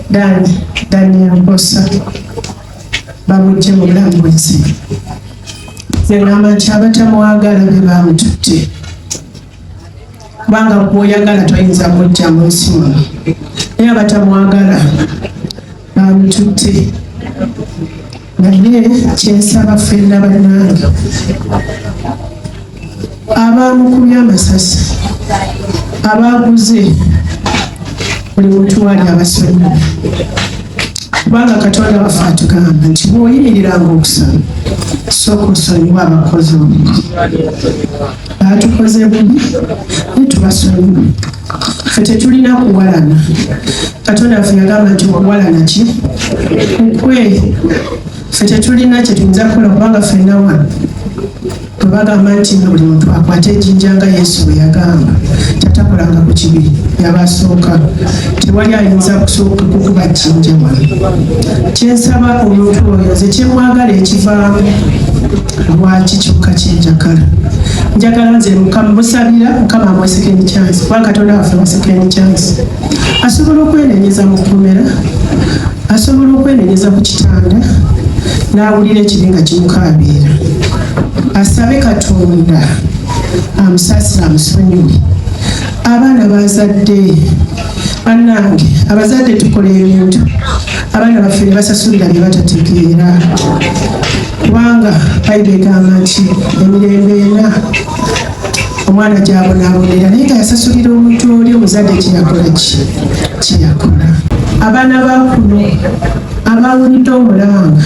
Dani Daniel Mposa bamujje mu bulambuzi nengamba nti abatamwagala be bamututte kubanga gwoyagala toyinza mujja mu nsi muno naye abatamwagala abitutte naye kyensaba ffenna bannange abaamukubye amasasi abaaguze buli muntu wali abasonyiwa kubanga katonda waffe atugamba nti bwoyimiriranga okusaba sooka osonyiwa abakozi obubi baatukoze bubi netubasonyiwa ffe tetulina kuwalana katonda waffe yagamba nti okuwalana ki kukwe ffe tetulina kyetuyinza kukola kubanga ffenna wano bwebagamba nti nga buli muntu akwata ejinja nga yesu bwe yagamba tatakolanga ku kibi yabasooka tewali ayinza kusooka kukuba jinja wano kyensaba omuntu oyo nze kyemwagala ekivaamu lwaki kyokka kyenjagala njagala nze mukama musabira mukama amwe second chance kuba katonda waffe mu second chance asobola okwenenyeza mu kkomera asobola okwenenyeza ku kitanda n'awulira ekibi nga kimukaabiira asabe katonda amusasira amusonyiwe abaana bazadde banange abazadde tukola ebintu abaana baffe ne basasulira bye batategeera kubanga bayibuli egamba nti emirembe ena omwana gyabonaabonera naye nga yasasulira omuntu oli omuzadde kyeyakola ki kyeyakola abaana bakuno abawulidde omulanga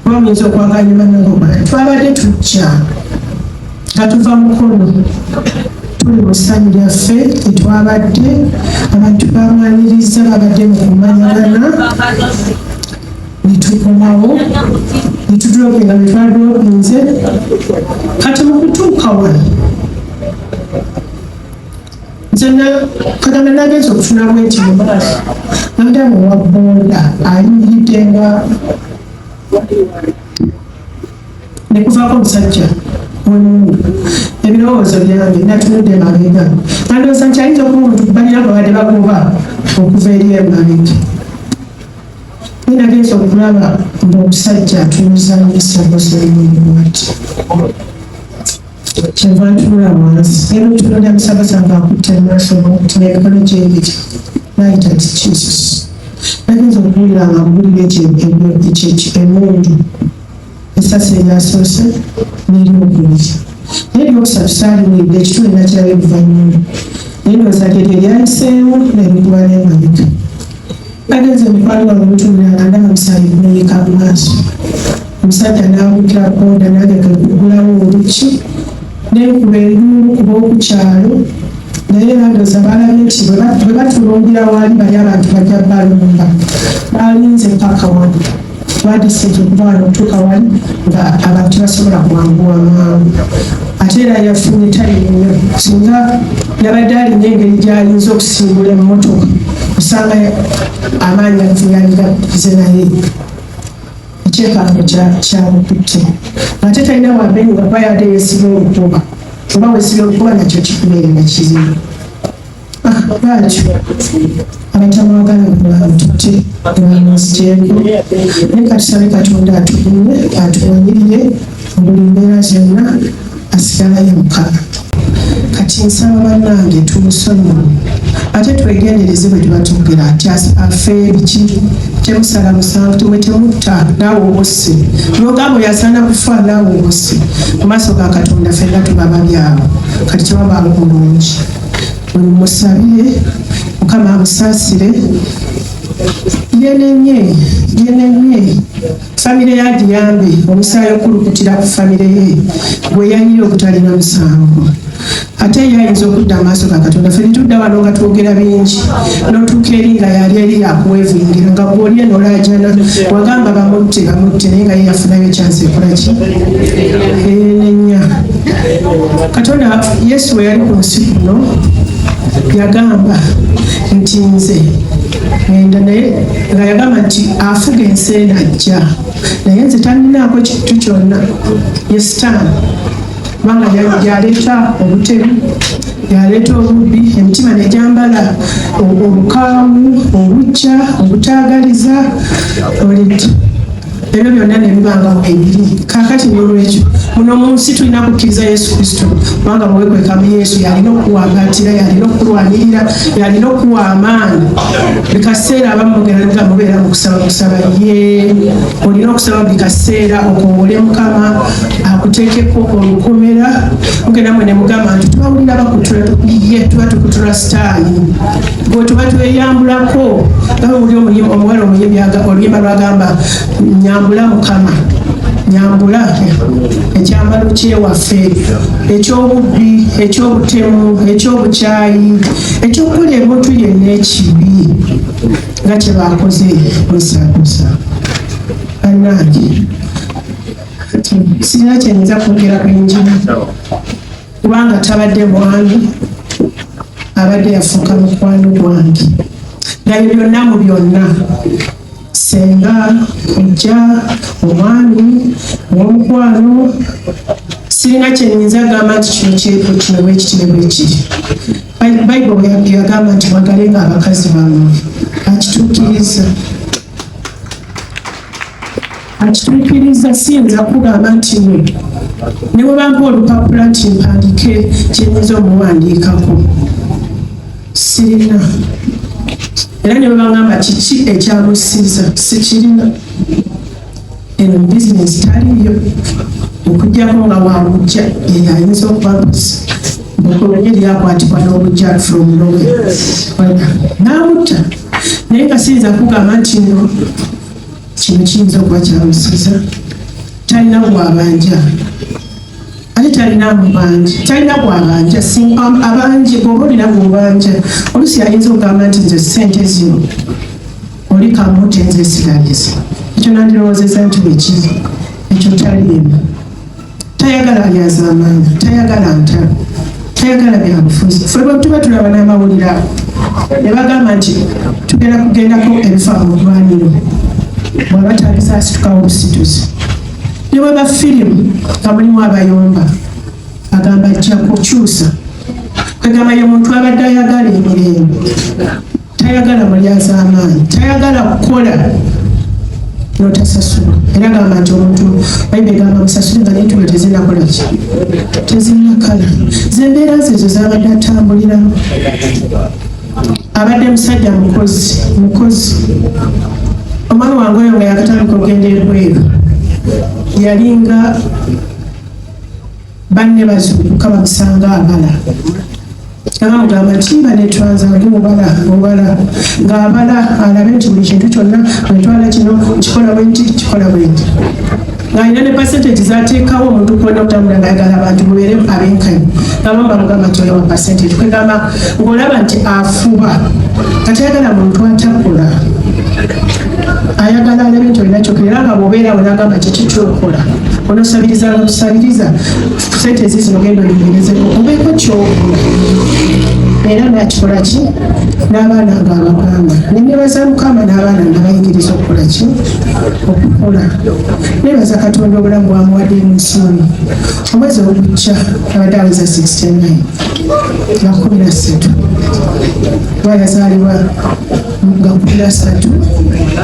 Bamuyinza okwaganyuma nengoma twabadde tujja nga tuva mukulu tuli mu ssanyu lyaffe tetwabadde abantu bamwaniriza babadde mu kumanyagana netukomawo netudulogenda netwaduloginze kati mu kutuuka wano nze kagame nagenza okufuna bwenti mumaaso nadamu wabunda ayimiridde nga nekuvako omusajja omundu ebirowoozo byange natunudde mabega nandooza nti ayinza okuba omuntu balina babadde bagoba okuva eri emabega naye nagenza okulaba ngaomusajja atuuza musagoseemulimu ati kyeva ntunula wansi naye mutunulira musabasanga akutte maaso nti nemikono gyebiri nayita nti jesus nagenza okuwulira nga mubulira emundu esasi eryasoose neryokubiri naye lyokusatu saaliwulidde ekitundu nakirayo oluvannyuma naye ndowooza lye lye lyayiseewo nerikuba nemabika Nagenze mu pali wa muntu mulala ndaba musaayi gumenyeka mu maaso. Omusajja n'abugira boda nange ge kugulawo oluki ne nkuba enduulu kuba oku kyalo naye bandoza balabye nti bwe batulungira waali bali abantu bajja balumba balinze paka wano twadisinze okutwala okutuuka wali nga abantu tebasobola kuwanguwa mangu ate era yafunye tayimu nnyo singa yabadde alina engeri gyayinza okusimbula emmotoka osanga amaanyi ageyaligaze naye ekyekango kyamukutte ate talina wambeyi nga kuba yadde yesiba olukuba oba wesiba olukuba nakyo kikubeera nakizibu bwatyo abatamwagala bwebamutute bwamuzigyeko naye katusabe katonda atugumye atuwanyirire buli mbeera zonna asigalayo mukama kati nsaba bannange tumusonyiwe ate twegendereze bwe tuba tugera nti afe biki temusala musanvu temwe temutta naawe obusse nogambo yasaana kufa naawe obusse mu maaso ga katonda fenna tuba babyawo kati tebabanga bulungi musabire mukama amusaasire yenenye yenenye famire yagiyambe omusaayi okulukutira ku famire ye gwe yayira obutalina musango ate ye ayinza okudda amaaso ga katonda fe netudda wano nga twogera bingi notuuka eri nga yali eri yakuwevingira nga gwoli eno olajana wagamba bamutte bamutte naye nga ye yafunayo ekyansi ekolaki enenya katonda yesu bwe yali ku nsi kuno yagamba nti nze enda naye nga yagamba nti afuga ensi eno ajja naye nze talinaako kintu kyonna ye sitaani kubanga yaleeta obutemu yaleeta obubbi emitima negyambala obukaawu obujja obutaagaliza oleti ebyo byonna ne bibangawo ebiri kakati nolwekyo muno mu nsi tulina kukkiriza yesu kristo kubanga muwekwekamu yesu yalina okuwambatira yalina okulwanirira yalina okuwa amaanyi buli kaseera abamugeraga mubeera mu kusaba kusaba ye olina okusaba buli kaseera okowole mukama akuteekeko olukomera mugenda mwe ne mugamba nti tubawulira bakutula ye tuba tukutula sitaani bwetuba tweyambulako nga oli omuwala omuyimbi oluyimba lwagamba nyambula mukama nyambula ekyambalo kyewaffe ekyobubbi ekyobutemu ekyobukyayi ekyokukola ebuntu yenna ekibi nga kyebakoze musakusa banange sirina kyenyinza kwogera ku enjiri kubanga tabadde bwange abadde yafuuka mukwano gwange naye byonna mu byonna senga ojja omwami owomukwano sirina kyenyinza agamba nti kino kyeko kino bwekitire bwekiri bayibuli yagamba nti mwagale nga abakazi bamwe akituukiriza akituukiriza siyinza kugamba nti we ne bwe bampa olupapula nti mpandiike kyenyinza omuwandiikako sirina era ne bwe bagamba kiki ekyamusiiza sikirina eno bizinesi taliyo okujjako nga wabujja eyo ayinza okubabuzi okulonye lyakwatibwa n'obujja from nowe namutta naye nga siyinza kugamba nti no kino kiyinza okuba kyamusuza talina gwabanja ate talina mubanja talina gwabanja um, abanje bwoba olina mubanja olusi ayinza okugamba nti nze sente zino oli kamuti nze esigaliza ekyo nandirowozeza nti bwekiri ekyo taliimu tayagala byazamaanya tayagala ntalo tayagala byabufuzi fe bwetuba tulaba n'amawulire ago ne bagamba nti tugenda kugendako ebifa mu ddwaniro bwaba tabisaasitukawo obusituzi ne bwe ba firimu nga mulimu abayomba agamba ajja kukyusa kwegamba ye muntu abadde ayagala emirembe tayagala mulyazaamaanyi tayagala kukola notasasula era gamba nti omuntu bayibuli egamba musasule nga nentuma tezinakola ki tezinakala zembeera zezo zabadde atambuliramu abadde musajja mukozi mukozi omwana wange oyo nga yakatandika okugenda ebweru yalinga banne bazuukuka bamusanga abala namugamba nti banetwaza ndi mubala mubala ng'abala alabe nti buli kintu kyonna wetwala kino kikola bwenti kikola bwenti ng'alina ne percentage zateekawo omuntu kubona okutambula ngayagala abantu mubeere abenkanyi nabamba mugamba nti oyo wa percentage kwegamba ng'olaba nti afuba katayagala muntu atakola ayagala alabe nti olina kyokera era nga bwobeera we nagamba kiki kyokola onosabiriza nga tusabiriza sente ezizino genda oyogerezeko obeeko kyokola era nakikola ki n'abaana nga abagamba nenebaza mukama n'abaana nga bayigiriza okukola ki okukola nebaza katonda obulamu bwamuwadde emunsoni omwezi ogujja abadde aweza 69 nga kumi na ssatu bwayazaalibwa gakubira satu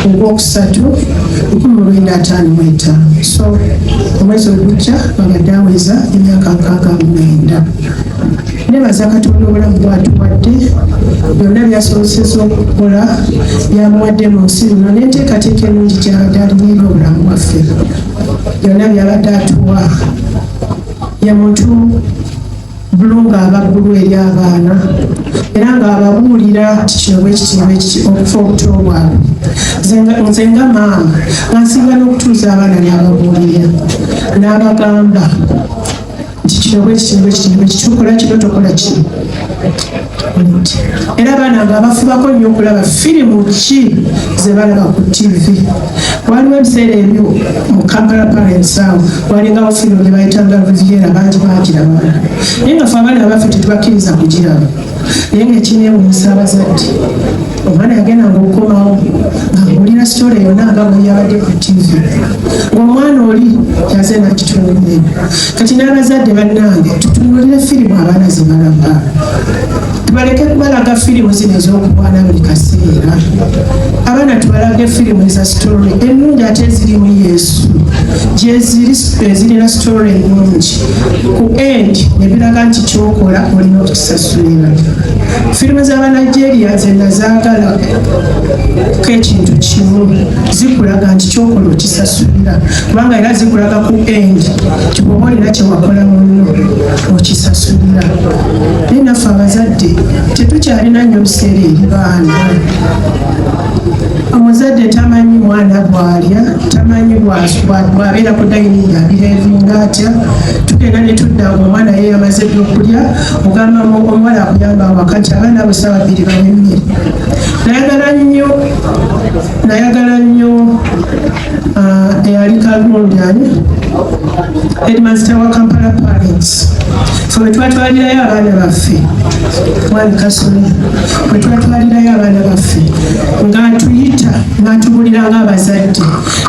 ogwokusatu lukumi lwenda ataano mwetaano so omwezi ogujja babadde aweza emyaka nkaaga mumwenda nebaza katonda obulamu bwatuwadde byonna byasoboseza okukola byamuwadde mu nsi luno n'enteekateeka enungi gyabadde alinaera obulamu bwaffe byonna byabadde atuwa ye muntu bulu ng'aba bulu eri abaana era ng'ababuulira kikyoba ekityoba ekiti okufa obuto bwabwe nze nga maama ngansinga n'okutuuza abaana n'ababuulira n'abagamba nti kino bwekityoba ekityoba ekitukola kino tokola kino era abaana nga abafubako nnyo okulaba firimu ki zebalaba ku tv waliwo ebiseera ebyo mu kampala parents awo walingawo firimu gyebayitanga riviera bangi bagiraba naye nga fe abaana baffe tetubakkiriza kugiraba naye nga ekinewunyisa abazadde omwana yagenda ngaokukomawo ngaawulira sitole yona nga bweyabadde ku tivi ngaomwana oli yaze nakitunulie kati n'abazadde bannange tutunulire firimu abaana zebalaba tubaleke kubalaga firimu zino ez'okubwana buli kaseera abaana tubalage firimu eza sitole ennungi ate ezirimu yesu gyeziri ezirina sitole ennungi ku end nebiraga nti kyokola olina okukisasulira firimu z'abanigeria nze nazaagala ko ekintu kimu zikulaga nti kyokola okisasulira kubanga era zikulaga ku end kikuba olina kyewakola munno okisasulira naye naffe abazadde tetukyalina nnyo biseera eri baana omuzadde tamanyi mwana bwalya tamanyi bwabeera ku dayini yabirevinga atya tugenda ne tudda ngaomwana yeyamaze byokulya ogamba omuwala akuyamba wakati abaana abo saawa bbiri banyumire nayagala nnyo nayagala nnyo ah, eyali kalundyani headmaster wa kampala parents fe wetwatwalirayo abaana baffe mwami kasole wetwatwalirayo abaana baffe ng'atuyita ng'atubulira ng'abazadde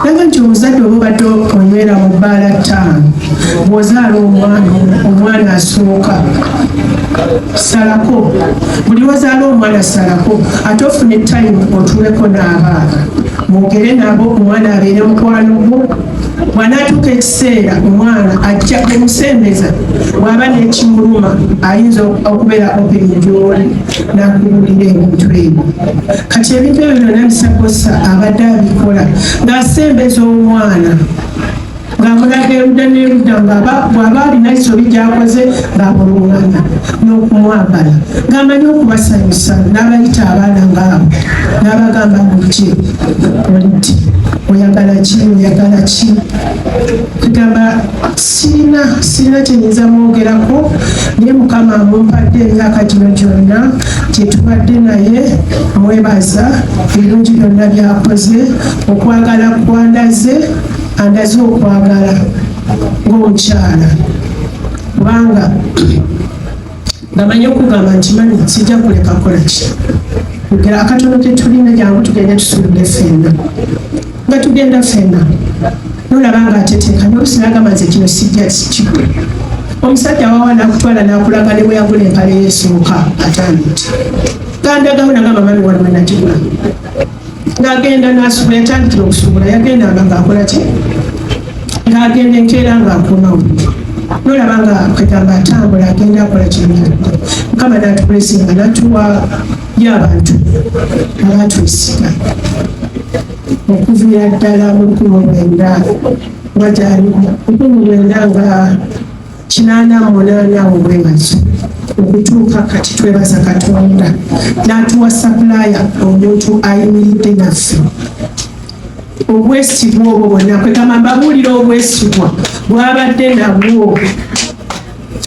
Naga nti omuzadde oba obadde onywera mu bbaala ttaano bw'ozaala omwana omwana asooka salako buli wazaala omwana salako ate ofune tayimu otuuleko n'abaana mwogere nabo omwana abeere mukwano gwo bwanaatuuka ekiseera omwana ajja omusembeza bw'aba n'ekimuluma ayinza okubeera open gyoli nakubuulira ebintu ebyo kati ebintu ebyo byonna bisakosa abadde abikola ng'asembeza omwana ng'amulaga erudda n'erudda bw'aba alina ekisobi gyakoze ng'amulungana n'okumwagala ng'amanyi okubasanyusa n'abayita abaana ng'abo n'abagamba nti olidde oyagala ki oyagala ki kugamba sirina sirina kyenyinza mwogerako naye mukama amumpadde emyaka gino gyonna gyetubadde naye mwebaza ebirungi byonna byakoze okwagala kwandaze andaze okwagala ng'omukyala kubanga namanyi okugamba nti mani sijja kuleka kola ki kugera akatono ketulina jangu tugende tusuubire fenna nga tugenda fenna nolaba nga ateteeka nobusinagamba nze kino sijja kikwe omusajja wawa nakutwala nakulaga ne bweyagula empale yesooka atanditi gandagawo nagamba mami waliwo nakigula ng'agenda n'asubula yatandikira okusubula yagendanga ng'akola ki ng'agenda enkeera ng'akomawo nolaba nga kwegamba atambula agenda akola kyenyini mukama natukulesinga natuwa y'abantu abatwesiga okuviira ddala mu lukumi lwenda nga gyali lukumi lwenda nga kinaana mu munaana awo bwemazo okutuuka kati twebaza katonda n'atuwa sapulaya omuntu ayimiridde naffe obwesigwa obwo bwonna kwegamba mbabuulira obwesigwa bwabadde nabwo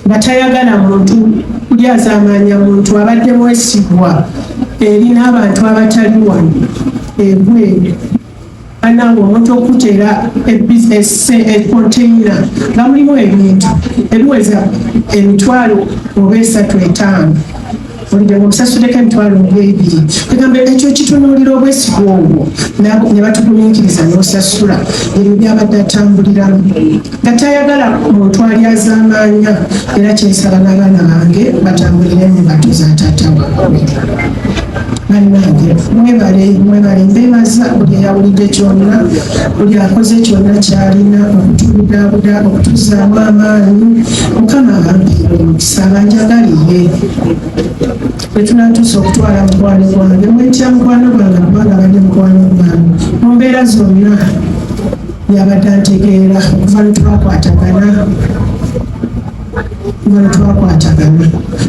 nga tayagala muntu kulyazamaanya muntu abadde mwesigwa eri n'abantu abatali wano ebweru banange omuntu okuteera econtaina nga mulimu ebintu ebiweza emitwalo oba esatu etaano olidemu obusasuleko emitwalo ng'ebiri egamba ekyo kitunuulira obwesigwa obwo ne batugumiikiriza n'osasula ebyo byabadde atambuliramu nga tayagala muntu alyazaamaanya era kyensaba n'abaana bange batambulire mu mbato za taata waabwe bannange mwebale mwebale mbeebaza buli eyawulidde kyonna buli akoze kyonna kyalina okutubudaabuda okutuzaamu amaanyi mukama abampeere omukisa abanjagaliye bwetunatuusa okutwala mukwano gwange mwetya mukwano gwange kubanga bali mukwano gwange mu mbeera zonna yabadde antegeera okuva lwetwakwatagana kuva lwetwakwatagana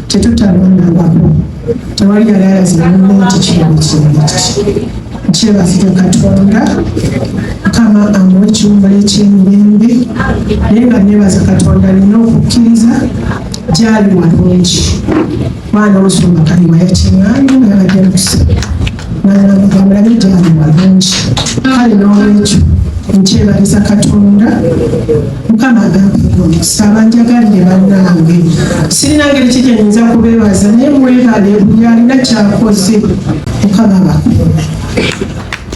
tetutalondangako tewali yali alazira muno nti kino kintu kyebaziga katonda mukama amuwa ekiwumba ekyemirembe naye nga nebaza katonda alina okukkiriza gyali walungi mwana omusumba kaliwa yakimanyi nabadde musa mulabe gyali malungi kale n'olwekyo nkyebaliza katonda mukama agampeko nsaba njagalire bannange sirina ngeri ki gyenyinza kubeebaza naye mwebale buli alina kyakoze mukama bakulu